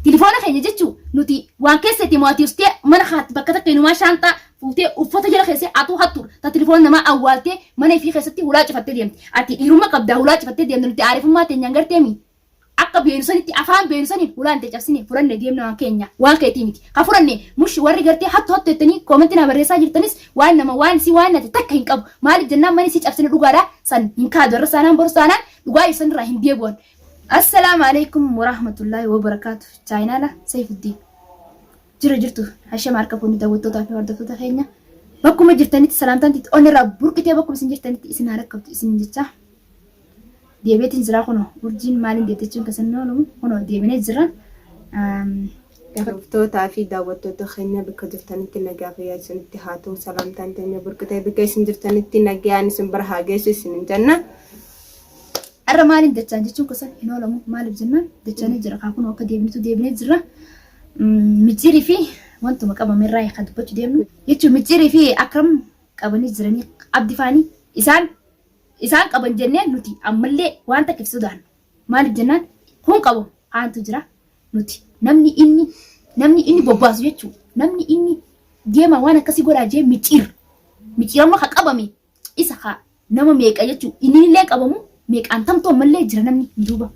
Tilifoona keenya jechuu nuti waan keessatti mo'atii ustee mana kaatti bakka takka inumaa shaanxaa fuutee uffata jala keessee atuu hattuur ta tilifoona namaa awwaaltee mana ifii keessatti hulaa cifattee deemte ati dhiirumma qabdaa hulaa cifattee deemte nuti aarifummaa teenyaan garteemi akka beenu sanitti afaan beenu saniin hulaan tee cabsine fudhanne deemne waan keenya waan keetii miti ka fudhanne mush warri gartee hattu hattu jettanii koomentii naa barreessaa jirtanis waan nama waan si waan nate takka hin qabu maaliif jennaan mani si cabsine dhugaadha san hin kaadu irra saanaan boru saanaan dhugaa ibsan irraa hin deebi'an Assalaamu alaikum warahmatullahi wabarakatuh chaayinaala Sayfuddiin jira jirtu hashama harka fuunni daawwattootaa fi hordoftoota keenya bakkuma jirtanitti salaamtaan titti onirraa burqitee bakkuma isin jirtanitti isin haa rakkabtu isin jecha deebiitiin jira kunoo urjiin maaliin deettechuun kasan oolu kunoo deebinee jira Hordoftootaa fi daawwattoota keenya bakka jirtanitti nagaa fayyaa isinitti haa ta'u salaamtaan teenya burqi ta'e bakka isin jirtanitti nagaan isin bira haa geessu isinin jenna. Har'a maaliin jechaan jechuun kusan hin oolamu maaliif jennaan jechaanii jira kaa kun akka deebinutu deebinee jirra. Micciirii fi wantuma qabame irraa kan dubbachuu deemnu jechuun micciirii fi akram qabanii jiranii abdifaanii isaan isaan qaban jennee nuti ammallee waan takka ibsuu daannu. Maaliif jennaan kun qabu kaantu jira nuti namni inni namni inni bobbaasu jechuu namni inni deema waan akkasii godhaa jee micciir micciiramma ka qabame isa ka nama meeqa jechuu inni illee qabamu meeqaan tamtu ammallee jira namni hin duuba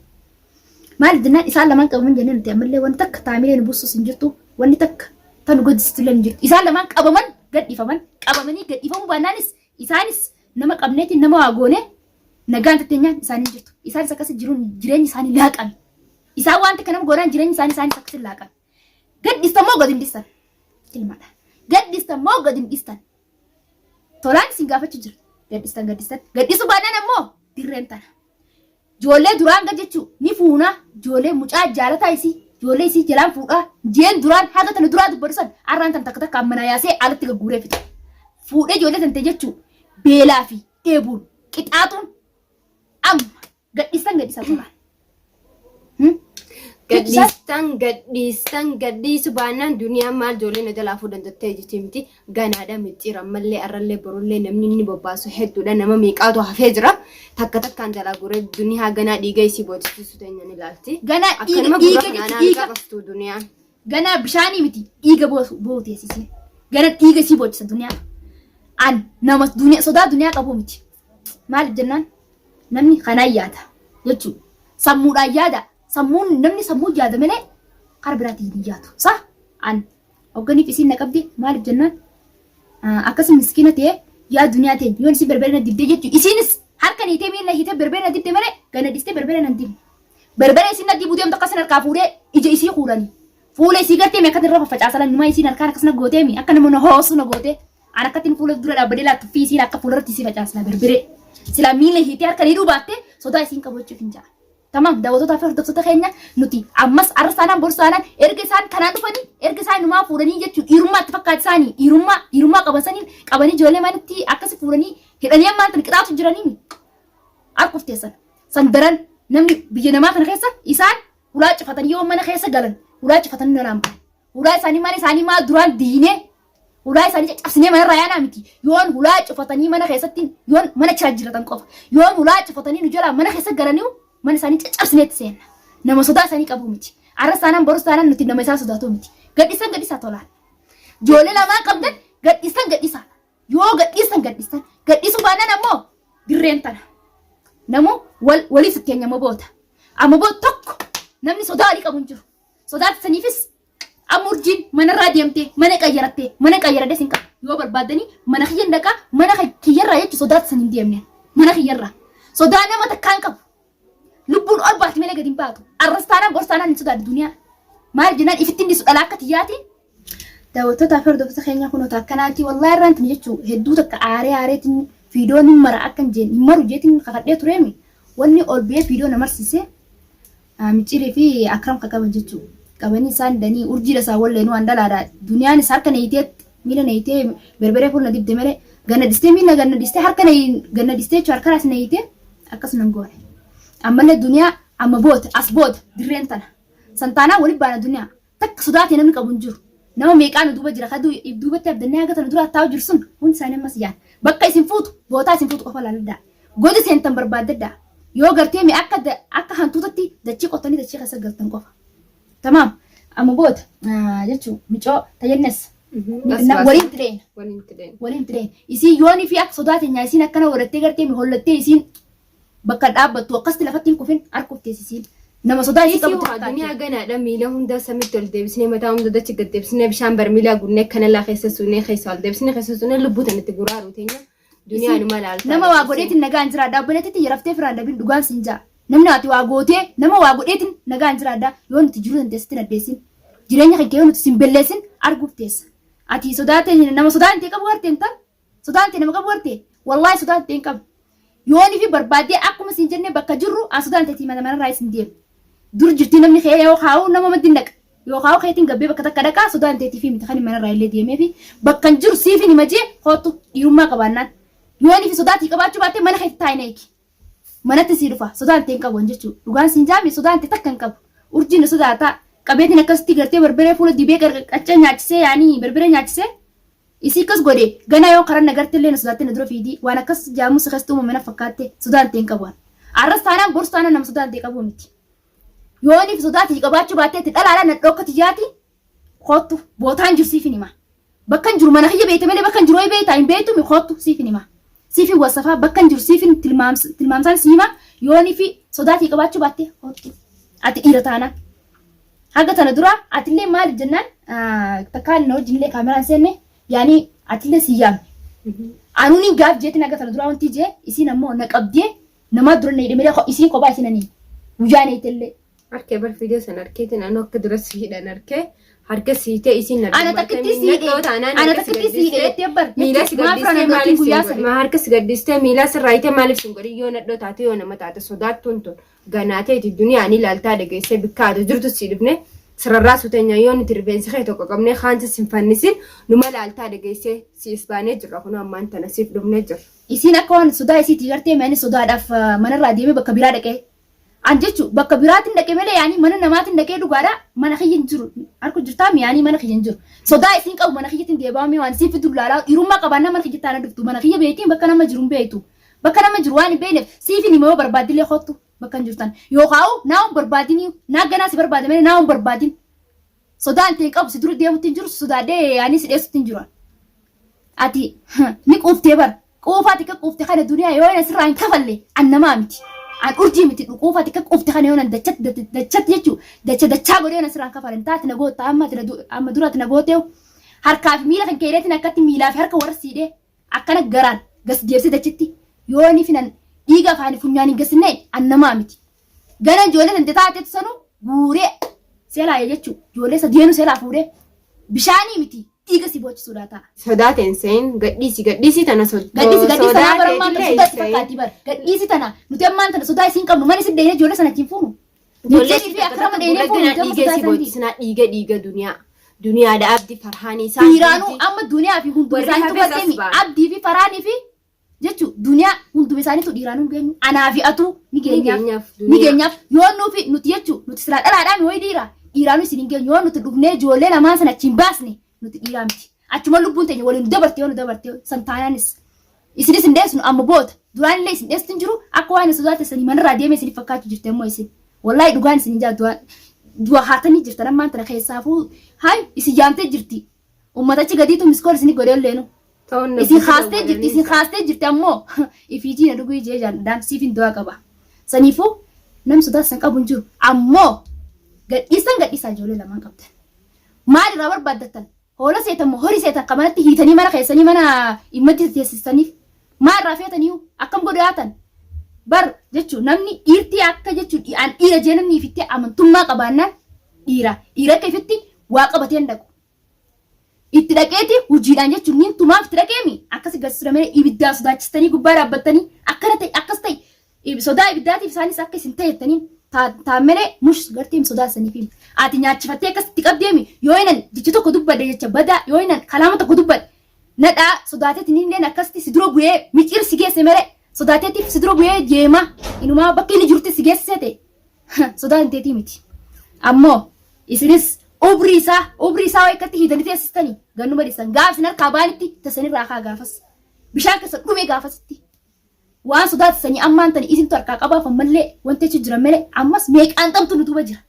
maaliif jennaan isaan lamaan qabaman jennee nuti ammallee wanti takka taamilee nu buusus hin jirtu wanni takka tan nu gaddisiistu illee hin jirtu isaan lamaan qabaman gadhiifaman qabamanii gadhiifamuu baannaanis isaanis nama qabneetiin nama waa goonee nagaan tatteenyaan isaanii jirtu. Isaanis akkasii jiruun jireenyi isaanii laaqame. Isaan wanti kanam godhan jireenyi isaanii isaanis akkasii laaqame. Gaddistan moo gad hin dhistan? Ilmadha. Gaddistan moo gad hin dhistan? Tolaan isin gaafachuu jira. Gaddistan gaddistan. Gaddisuu baadhaan ammoo dirreen tana. Ijoollee duraan gad jechuu ni fuunaa. Ijoollee mucaa jaalataa isii. Ijoollee isii jalaan fuudhaa. Jeen duraan haga tana duraa dubbatu san arraan tan takka takka ammanaa yaasee alatti gagguuree fixa. Fuudhee ijoollee tante jechuu beelaa fi dheebuun qixaaxuun amma gadhiistan gadhiisa turan. Hmm? Gadhiisa Gadhiistan gadhiistan gadhiisu baannaan duniyaan maal ijoollee na jalaa fuudhan jettee jettee miti ganaadha micciira ammallee arrallee borullee namni inni bobbaasu hedduudha nama meeqaatu hafee jira takka takkaan jalaa guree duniyaa ganaa dhiiga isii boochisu teenya ni ilaalti. ganaa Akkanuma dhiiga gurra dhiiga kanaan dhiiga qabastu duniyaan. Ganaa bishaanii miti dhiiga boosu boohu teessisee. Gara dhiiga isii boochisa duniyaa. An nama duniyaa sodaa duniyaa qabu miti. Maaliif jennaan namni kanaan yaada jechuudha. Sammuudhaan yaada. Sammuun namni sammuu yaada malee karaa biraatiin hin yaadu. Sa an hoogganiif isiin na qabdi maaliif jennaan akkasi miskiina ta'e yaa duniyaa ta'e yoon isin berbere na dibde jechuudha. Isiinis harka niitee miila hiitee berbere na dibde malee gana dhistee berbere na hin dibne. Barbaree isin naddii buuteemtu akka isin harkaa fuudhee ija isii kuulani. Fuula isii gartee mi akkatti irra faffacaasalan nyumaa isiin harkaan akkas na gootee mi akka nama na hoosu na gootee. An akkatti fuula dura dhaabbadee laattu fi isiin akka fuula irratti isii facaasla barbaree. Silaa miila hiitee harka ni dhubaatte sodaa isiin qabachuuf hin ja'a. Tamam daawwatootaa fi hordoftoota keenya nuti ammas arsaanaan borsaanaan erga isaan kanaan dhufanii erga isaan numaa fuudhanii jechuun dhiirummaa itti fakkaata isaanii dhiirummaa dhiirummaa qaban saniin qabanii ijoollee manitti akkasi fuudhanii hidhanii ammaan tan qixaatu jiranii mi? Harkuf teessan. San daran namni biyya namaa kana keessa isaan hulaa cufatanii yoo mana keessa galan hulaa cufatanii nalaan bahan. Hulaa isaanii mana isaanii maa duraan diinee hulaa isaanii caccabsinee manarraa yaanaa miti. Yoon hulaa cufatanii mana keessatti yoon mana chaa jiratan qofa. Yoon hulaa cufatanii nu jalaa mana keessa galanii mana isaanii caccabsineetti seenna. Nama sodaa isaanii qabu miti. Arras taanaan borus taanaan nuti nama isaa sodaatu miti. Gadhisan gadhisaa tolaan. Joolee lamaan qabdan gadhisan gadhisaa. Yoo gadhiistan gadhiistan gadhiisuu baannan ammoo dirreen tana. Namuu wal waliif fakkeenya moboota. Amaboo tokko namni sodaa walii qabu hin jiru. Sodaa saniifis amma urjiin manarraa deemtee mana qayyarattee mana qayyaradee sin qabu. Yoo barbaaddanii mana kiyyan dhaqaa mana kiyyarraa jechuun sodaa san hin deemne. Mana kiyyarraa. Sodaa nama takkaan qabu. Lubbuun ol baati malee gadi hin baatu. Arras taanaan bor taanaan hin sodaatu duniyaa. Maal jennaan ifittiin dhiisu dhalaa akka tiyyaati. Daawwattoota fi hordoftoota keenya kun otoo akkanaati wallaahi irraan tuni jechuu hedduu takka aaree aareetiin fiidoo ni mara akkan jeen hin maru jeetiin kakadhee tureemi wanni ol ba'ee fiidoo na marsiise micciirii fi akram kakaban jechuu qabanii isaan danii urjiidha isaa wallee nu an dhalaadha duniyaan is harka neeyiteetti Miila na hiitee berberee fuula na dibde malee ganna dhistee miila ganna dhistee harka na ganna dhistee jechuun harka as na hiitee akkas nan goone. Ammallee duniyaa amma booda as booda dirreen tana. Santaanaa walitti baana duniyaa takka sodaatee namni qabu hin jiru. Nama meeqaa nu duuba jira kaduu if duubatti abdannee haga tana duraa taa'u jiru sun hundi isaanii ammas iyaan. Bakka isin fuutu bootaa isin fuutu qofa laaladhaa. Goda seentan barbaaddadhaa. Yoo gartee mee akka akka hantuutatti dachii qottanii dachii keessa galtan qofa. Tamaam. Amma boota jechuun micoo tayyannes. Waliin tireen. Waliin tireen. Waliin tireen. Isiin yoonii fi akka sodaa teenyaa isiin akkana warattee gartee mi hollattee isiin bakka dhaabbattu akkasti lafatti hin kufin harkuftee isiin. Nama sodaa isii qabu tirkaatti. Duniyaa ganaadha miila hundaa samitti ol deebisnee mataa hunda dachi gad deebisnee bishaan barmiilaa gunnee kanalaa keessa suunee keessa ol deebisnee keessa suunee lubbuu tanatti guraaru teenya. Duniyaa numa laaltaa. Nama waa godheetiin nagaan jiraadha. Obboleettii tiyya raftee firaan dabin dhugaan siin jaa. Namni ati waa gootee nama waa godheetiin nagaan jiraadha. Yoo nuti jiruu tante sitti naddeessin. Jireenya kee yoo nuti sin belleessin arguuf teessa. Ati sodaatee nama sodaan tee qabu gartee intal. Sodaan tee nama qabu gartee. Wallaahi sodaan tee hin qabu. Yoonii fi barbaadee akkuma siin jennee bakka jirru an sodaan teetii mana manarraa isin deema. Dur jirtii namni kee yoo kaa'u nama maddi naqa. Yoo kaa'oo keetiin gabbee bakka takka dhaqaa sodaan teetiifii miti kanin manarraa illee deemeefi bakkan jiru siifin hima jee koottu dhiirummaa qabaannaan yoo inni fi sodaatii qabaachuu baattee mana keetti taa'ina eegi manatti sii dhufa sodaan tee hin qabu an jechuu dhugaan siin jaame sodaan tee takka hin qabu urjiin na sodaataa qabeetiin akkasitti gartee barbaree fuula dibee qaccee nyaachisee yaanii barbaree nyaachisee isii akkas godhe ganaa yoo karan nagarte illee na sodaattee na dura fiidii waan akkas jaamuu si keessatti uumame na fakkaatte sodaan tee hin qabu an arras taanaan bors taanaan nama sodaan tee qabuu miti. Yoo inni fi sodaati si qabaachuu baatteetti dhalaadha nadhoo akka tiyyaati koottu bootaan jiru siifin hima. Bakkan jiru mana kiyya beekte malee bakkan jiru ho'i beektaa hin beektu mi koottu siifin hima. Siifin wasafaa bakkan jiru siifin tilmaams- tilmaamsaan si hima yoo inni fi sodaati si qabaachuu baatte koottu. Ati dhiira taanaan. Haga tana dura atillee maaliif jennaan ah, takkaan na wajjin illee kaameraan seenne yaani atillee si yaamne. Anuun hin gaaf jeetiin haga tana dura wanti jee isiin ammoo na qabdee Namaa dura na hidhe malee ko- isiin kophaa isiin ani guyyaa na hidhellee. Arkee bar video san arkeetiin anu akka dura si hidhan arkee harka si hiitee isiin na Ana takkittii si hidhe. Ana takkittii si hidhe jettee bar. Miila si Maaf gaddistee raana maaliif guyyaa si sana? harka si gaddistee miila sirraa hiitee maaliif si godhin yoo nadhoo taate yoo nama taate sodaattuun tun ganaateeti duniyaan ilaaltaa dhageessee bikka ati jirtu si dhibne sirarraa suteenya yoo nuti rifeensi kee tokko qabnee kaansi sin fannisin numa laaltaa dhageessee si isbaanee jirra kun ammaan tana siif dhufnee jirra. Isiin akka waan sodaa isiitii gartee mee ani sodaadhaaf manarraa deemee bakka biraa dhaqee an jechu bakka biraatiin dhaqe malee yaanii mana namaatiin dhaqee dhugaadha mana kiyya hin jiru arku jirtaa mi yaanii mana kiyya hin jiru sodaa isiin qabu mana kiyyatiin deebaa mee waan isiin fidu laalaa dhiirummaa qabaannaa mana kiyya taana dhuftu mana kiyya beektiin bakka nama jiru hin beektu bakka nama jiru waan hin beekneef siifin hima yoo barbaaddilee kottu bakka hin jirtan yookaa'u naa hin barbaadinii naa ganaa si barbaade malee naa hin barbaadin Sodaan ta'e qabu si dura deemutti hin jiru sodaadhee yaanii si dheessutti hin jiru. Ati ni quuftee bara. Quufaa xiqqa quufte kana duniyaa yoo na sirraa hin kafalle an namaa miti. An urjii miti quufaa xiqqa quufte kana yoo na dachatti dachatti jechuu dacha dachaa godhee yoo na sirraa hin kafalle taati na gootta amma ati amma dura ati na gootee harkaa fi miila kan keedeetiin akkatti miilaa fi harka warra siidhee. Akkana garaan gas deebisee dachitti yoo inni finan dhiiga afaanii funyaan hin gassinne an namaa miti. Gana ijoollee tante taatetu sanu guuree seelaa jechuu ijoollee sadeenu seelaa fuudhee bishaanii miti dhiiga si boochisuudhaa ta'a. Sodaate hin se'in gadhiisi gadhiisi tana sodaate. Gadhiisi gadhiisi tanaa bara ammaan tana sodaa itti fakkaatti bara. Gadhiisi tana nuti ammaan tana sodaa isiin qabnu mana isin deeyne ijoollee sana ittiin fuunu. Ijoollee Mijjanii fi akkana godhee gurra fuudhee ganaa dhiigee si boochi sinaa dhiiga dhiiga duniyaa. Duniyaadha abdi farhaanii isaa. Dhiiraanuu amma duniyaa fi hunduma Warri isaaniitu hafes barteemi. asbaan. Abdii fi faraanii fi jechuun duniyaa hunduma isaaniitu dhiiraanuu geenyu. Anaa fi atuu ni geenyaaf. Nigeenyaaf Ni duniyaa. geenyaaf. Yoo nuufi nuti jechuun nuti silaa dhalaadhaan ho'i dhiira. Dhiiraanuu isin hin geenyu. Yoo nuti dhugnee ijoollee lamaan sana achiin baasne Nuti dhiiraa miti. Achuma lubbuun teenya waliin dabarte yoo nu dabarte san taanaanis. Isinis hin deesnu amma boota. Duraan illee isin dheessuun jiru akka waan sodaa teessanii manarraa deemee isiniif fakkaachuu jirti ammoo isin. Wallaahi dhugaan isin hin jaaddu du'a haatanii jirtan ammaan tana keessaafuu haay isin yaamtee jirti. Uummatachi gadiitu miskool isinii godhee olleenu. Ta'uun na Isin buusa kaastee jirti, dawwalanii isin kaastee jirti ammoo ifiitii na dhuguu ijee jaalladhaan siif hin du'aa qaba. Saniifuu nam sodaas san qabu hin jiru. Ammoo gadhiistan gadhiisaa ijoollee lamaan qabdan. Maal irraa barbaaddattan? Hoola seetan moo horii seetan kan manatti hiitanii mana keessanii mana immatti teessistaniif? Maal irraa feetaniiyu? Akkam godhu yaatan? Bar jechuun namni dhiirtii akka jechuun an dhiira jee namni ifitti amantummaa qabaannaan dhiira. Dhiira akka ifitti waa qabatee hin dhaqu. Itti dhaqeeti hujiidhaan jechuun nin tumaaf itti dhaqeemi akkasi gasisudha malee ibiddaa sodaachistanii gubbaa dhaabbattanii akkana ta'e akkas ta'e ib- sodaa ibiddaatiif isaanis akka isin ta'e jettanii taa- taan malee mush garteem sodaa saniifi ati nyaachifattee akkas itti qabdeemi yoo inan jecha tokko dubbadhe jecha badaa yoo inan kalaama tokko dubbadhe nadhaa sodaateetiin illeen akkasitti si dura bu'ee miciir si geesse malee sodaateetiif si dura bu'ee jeema inumaa bakka inni jirutti si geessise ta'e sodaa hin teetii miti ammoo isinis ubrii isaa ubrii isaa waa ikkatti hiitanii teessistanii gannuma dhiisan gaaf isin harkaa baanitti tassanirraa haa gaafas bishaan keessa dhumee gaafasitti waan sodaa tassanii ammaan tani isintu harkaa qabaaf ammallee wanti achi jira malee ammas meeqaan qabtu nutuba jira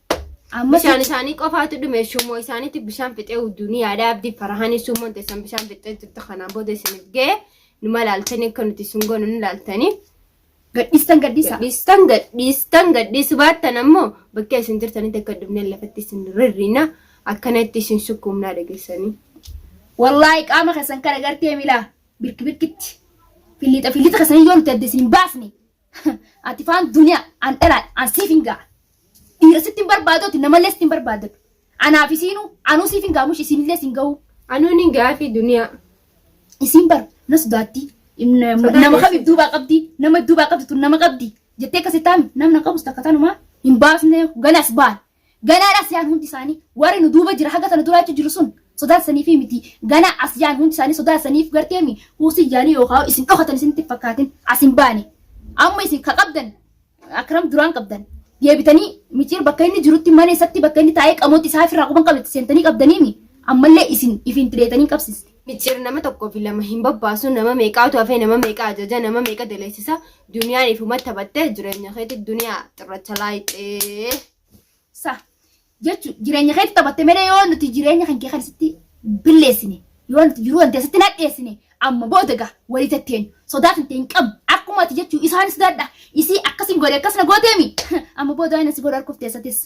ammas Bishaan isaanii qofaatu dhume shummoo isaaniitti bishaan fixee hudduu ni yaada abdii farahanii shummoon teessan bishaan fixee jirtu kanaan booda isiniif ga'e numa laaltanii akka nuti sun goonu ni laaltanii Gadhiistan gadhiisa. Gadhiistan gadhiistan gadhiisu baattan ammoo bakka isin jirtanitti akka dhumneen lafatti isin rirriina akkanatti isin sukkuumnaa dhageessanii. Wallaahi qaama keessan kana gartee milaa birki birkitti filiixa filiixa keessanii yoo nuti adda isin baasne ati faan duniyaa an dhalaa an siif hin ga'a. Dhiira sitti hin barbaadoti namallee sitti hin barbaadatu. Anaaf isiinu anuu siif hin gaamush isiinillee siin gahuu. Anuu ni gaafii duniyaa. Isiin bar na sodaatti. Inna- Sodaa Nama keessa. qabdi duubaa qabdi nama duubaa qabdi tun nama qabdi jettee akkasi taami namna qabus takka tanumaa hin baasne ganas baal ganaa asiyaan hundi isaanii warri nu duuba jira haga sana duraacha jiru sun sodaa saniif miti ganaa asiyaan hundi isaanii sodaa saniif garteemi huusi yaanii yookaan isin dhokatan isinitti hin fakkaatin as hin baane amma isin ka qabdan Akram duraan qabdan deebitanii miciir bakka inni jirutti mana isatti bakka inni taa'ee qamooti isaa ofirraa quban qabetti seentanii qabdaniimi ammallee isin ifin tireetanii qabsiste. Miciir nama tokkoo fi lama hin babbaasu nama meeqaatu hafee nama meeqa ajaja nama meeqa daleessisa duniyaan ifuma taphattee jireenya keetti duniyaa xirracha laayixee. Sa. Jechuun jireenya keetti taphatte malee yoo nuti jireenya kan kee kan sitti billeessine yoo nuti jiruu wanta sitti nadheessine amma booda gaa walii tatteen sodaa kan ta'e hin qabnu akkuma ati jechuu isaan sodaadha isii akkasiin godhe akkas na gooteemi amma booda waan si godhe harkuuf teessatis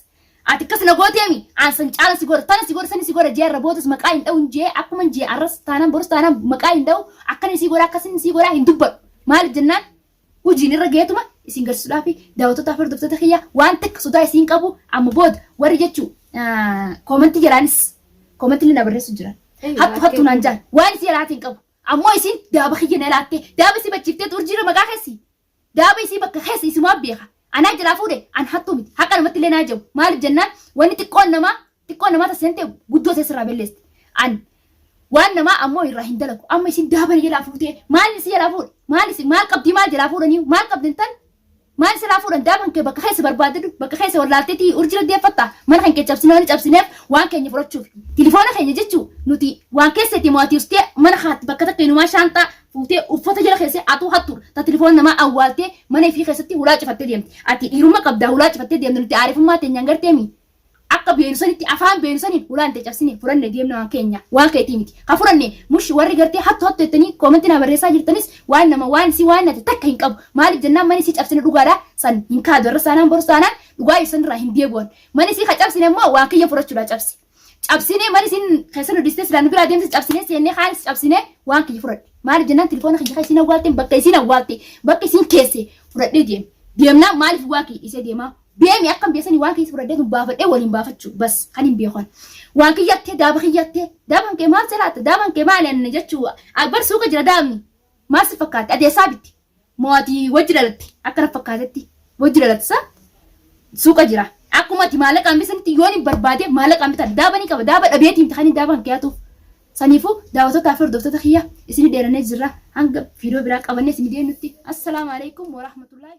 ati akkas na gooteemi aan san caala si godhe tana si godhe sani si godhe jee irra boodas maqaa hin dha'u jee akkuma jee arras taanaan borus taanaan maqaa hin dha'u akkan isii godha akkasin isii godha hin dubbadhu maaliif jennaan Hujiin irra gaheetuma isin garsisudhaafi daawwattootaafi hordoftoota kiyya waan takka sodaa isiin qabu amma booda warri jechu koomantii jalaanis koomantii illee na barreessu jiran hattu hattu naan jaan waan isii alaatiin qabu ammoo isiin daaba kiyya na laattee daaba isii bachiiftee urjiirra maqaa keessi daaba isii bakka keessa isimaa beeka Anaa jalaa fuudhe an hattuu miti haqa namatti illee naa jabu maaliif jennaan wanni xiqqoon namaa xiqqoon namaa tasseentee guddoo ta'e sirraa belleesti an waan namaa ammoo irraa hin dalagu amma isin daabani jalaa fuutee maal isin jalaa fuudhe maal isin maal qabdii maal jalaa fuudhanii maal qabdin tan maal sirraa fuudhan daaban kee bakka keessa barbaadadu bakka keessa wallaalteetii urjira deeffatta mana kan kee cabsinee waan cabsineef waan keenya fudhachuuf tilifoona keenya jechuu nuti waan keessatti mo'atiustee mana haatti bakka takka inumaa shaanxaa fuutee uffata jala keessee atuu hattuudha. Ta tilifoona namaa awwaaltee mana ifii keessatti hulaa cifattee deemte. Ati dhiirumma qabdaa hulaa cifattee deemte nuti aarifummaa teenyaan garteemi. Akka beenu sanitti afaan beenu saniin hulaan tee cabsine fudhanne deemne waan keenya waan keetii miti. Ka fudhanne mush warri gartee hattu hattu jettanii koomentii naa barreessaa jirtanis waan nama waan si waan nate takka hin qabu. Maaliif jennaan mani si cabsine dhugaadha san hin kaadu irra saanaan boru saanaan dhugaa ibsan irraa hin deebi'an. Mani si ka cabsine immoo waan kiyya fudhachuudhaa cabse. cabsinee mana isin keessa nu dhistee silaa nu biraa deemte cabsinee seennee kaanis cabsinee waan kiyya fudhadhe maaliif jennaan tilifoona kiyya isin awwaalte bakka isin awwaalte bakka isin keesse fudhadhee deem deemnaa maaliif waa kiyya dhisee deemaa deemi akkam beesanii waan kiyya fudhadhee sun baafadhee waliin baafachuu bas kan hin beekan waan kiyyattee daaba kiyyattee daaban kee maal salaata daaban kee maal anna jechuu akbar suuqa jira daabni maal si fakkaate adeessaa bitti Moo ati wajji dhalatte akka na fakkaatetti wajji dhalatte sa suuqa jira akkuma ati maallaqa hambisa sanitti yoon hin barbaade maallaqa hambitan daaba ni qaba daaba dhabeetii miti kan hin daaba kan kiyaatu saniifu daawwattoota fi hordoftoota kiyya isini dheerannee jirra hanga viidiyoo biraa qabannee isini deemnutti assalaamu alaikum warahmatullaahi